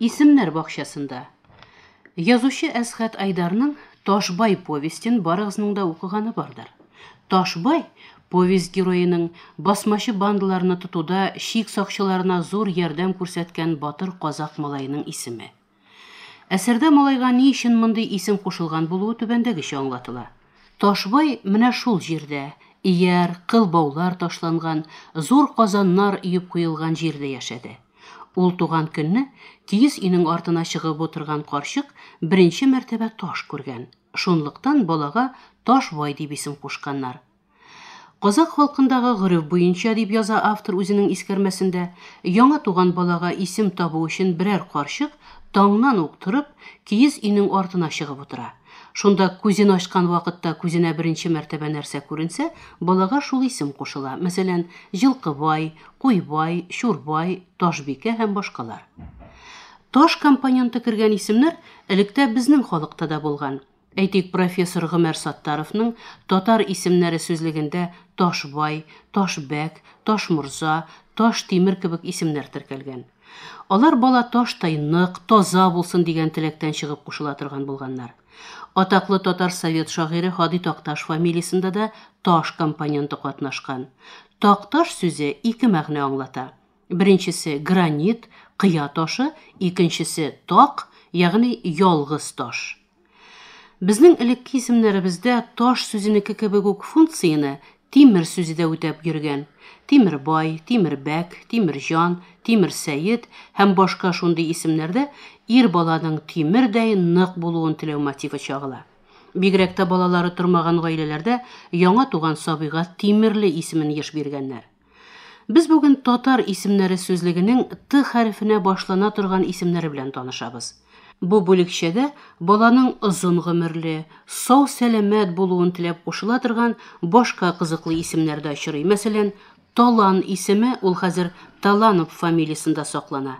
Исемнәр бакчасында. Язучы Әсхәт Айдарның Ташбай повестен барыгызның да укыганы бардыр. Ташбай повесть героеның басмачы бандаларны тотуда шик сакчыларына зур ярдәм күрсәткән батыр казак малаеның исеме. Әсәрдә малайга ни өчен мондый исем кушылган булуы түбәндәгечә аңлатыла. Ташбай менә шул җирдә, ияр, кыл баулар ташланган, зур казаннар өеп куелган җирдә яшәде. Ул туган көнне киез өйнең артына чыгып утырган карчык беренче мәртәбә таш күргән. Шунлыктан балага Ташбай дип исем кушканнар. Казакъ халкындагы гореф буенча, дип яза автор үзенең искәрмәсендә, яңа туган балага исем табу өчен берәр карчык таңнан ук торып, киез өйнең артына чыгып утыра. Шунда күзен ачкан вакытта күзенә беренче мәртәбә нәрсә күренсә, балага шул исем кушыла, мәсәлән, Җылкыбай, Куйбай, Чурбай, Ташбикә һәм башкалар. Таш компоненты кергән исемнәр электә безнең халыкта да булган. Әйтик, профессор Гомәр Саттаровның татар исемнәре сүзлегендә Ташбай, Ташбәк, Ташморза, Таш Тимер кебек исемнәр теркәлгән. Алар бала таштай нык, таза булсын дигән теләктән чыгып кушыла торган булганнар. Атаклы татар совет шагыйре Һади Такташ фамилиясендә дә Таш компоненты катнашкан. Такташ сүзе ике мәгънә аңлата. Беренчесе, гранит, кыя ташы, икенчесе, так, ягъни ялгыз таш. Безнең элекке исемнәребездә таш сүзенеке кебек үк функцияне тимер сүзе дә үтәп йөргән. Тимербай, Тимербәк, Тимерҗан, Тимерсәет һәм башка шундый исемнәрдә ир баланың тимердәй нык булуын теләү мотивы чагыла. Бигрәк тә балалары тормаган гаиләләрдә яңа туган сабыйга Тимерле исемен еш биргәннәр. Без бүген татар исемнәре сүзлегенең Т хәрефенә башлана торган исемнәре белән танышабыз. Бу бүлекчәгә баланың озын гомерле, сау сәламәт булуын теләп кушыла торган башка кызыклы исемнәр дә очрый. Мәсәлән, Талан исеме ул хәзер Таланов фамилиясендә саклана.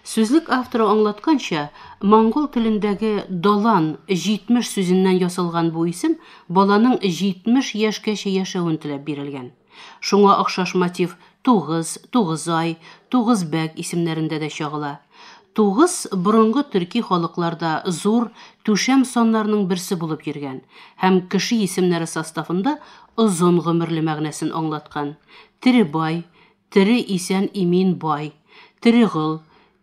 Сүзлек авторы аңлатканча, монгол телендәге Далан 70 сүзеннән ясалган бу исем баланың 70 яшькәчә яшәвен теләп бирелгән. Шуңа охшаш мотив Тугыз, Тугызай, Тугызбәк исемнәрендә дә чагыла. Тугыз борынгы төрки халыкларда зур, түшәм саннарның берсе булып йөргән һәм кеше исемнәре составында озын гомерле мәгънәсен аңлаткан. Теребай, тере исән-имин бай, Терегол,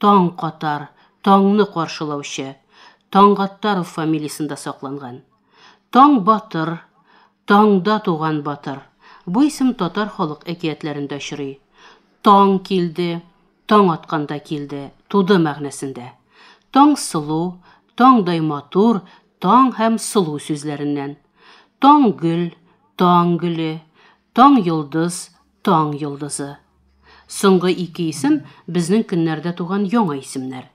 Таң катар, таңны каршылаучы, Таңгаттаров фамилиясендә сакланган. Таң батыр, таңда туган батыр, бу исем татар халык әкиятләрендә очрый. Таң килде, таң атканда килде, туды мәгънәсендә. Таңсылу, таңдай матур, таң һәм сылу сүзләреннән. Таң гөл, таң гөле, таң йолдыз, Таң йолдызы. Соңгы ике исем безнең көннәрдә туган яңа исемнәр.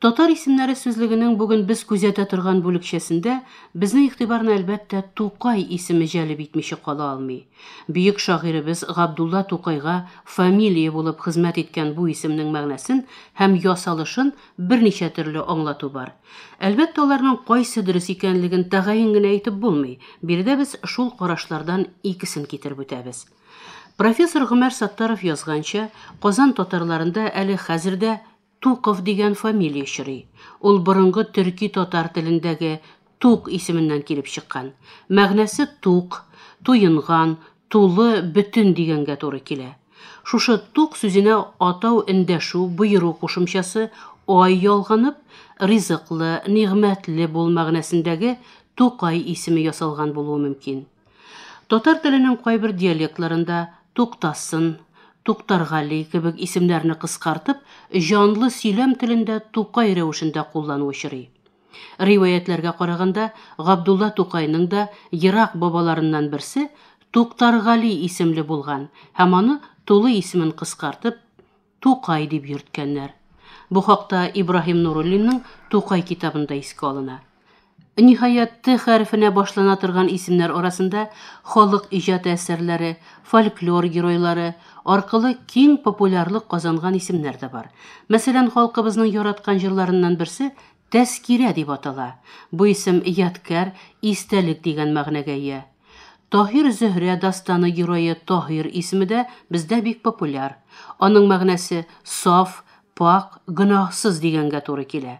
Татар исемнәре сүзлегенең бүген без күзәтә торган бүлекчәсендә безнең игътибарны әлбәттә Тукай исеме җәлеп итмичә кала алмый. Бөек шагыйребез Габдулла Тукайга фамилия булып хезмәт иткән бу исемнең мәгънәсен һәм ясалышын Берничә төрле аңлату бар. Әлбәттә, аларның кайсы дөрес икәнлеген тәгаен генә әйтеп булмый. Биредә без шул карашлардан икесен китереп үтәбез. Профессор Гомәр Саттаров язганча, Казан татарларында әле хәзер дә Туков дигән фамилия чорый. Ул борынгы төрки-татар телендәге Тук исеменнән килеп чыккан. Мәгънәсе тук, туенган, тулы, бөтен дигәнгә туры килә. Шушы тук сүзенә атау эндәшү, боеру кушымчасы, ай ялганып, ризыклы, нигъмәтле бул мәгънәсендәге Тукай исеме ясалган булуы мөмкин. Татар теленең кайбер диалектларында Туктасын, Туктаргали кебек исемнәрне кыскартып, җанлы сөйләм телендә Тукай рәвешендә куллану очрый. Риваятьләргә караганда, Габдулла Тукайның да ерак бабаларыннан берсе Туктаргали исемле булган һәм аны тулы исемен кыскартып, Тукай дип йөрткәннәр. Бу хакта Ибраһим Нуруллинның Тукай китабында искә алына. Ниһаять, Т хәрефенә башлана торган исемнәр арасында халык иҗаты әсәрләре, фольклор геройлары аркылы киң популярлык казанган исемнәр дә бар. Мәсәлән, халкыбызның яраткан җырларыннан берсе, Тәзкирә дип атала. Бу исем ядкәр, истәлек дигән мәгънәгә ия. Таһир-Зөһрә дастаны герое Таһир исеме дә бездә бик популяр. Аның мәгънәсе, саф, пакь, гөнаһсыз дигәнгә туры килә.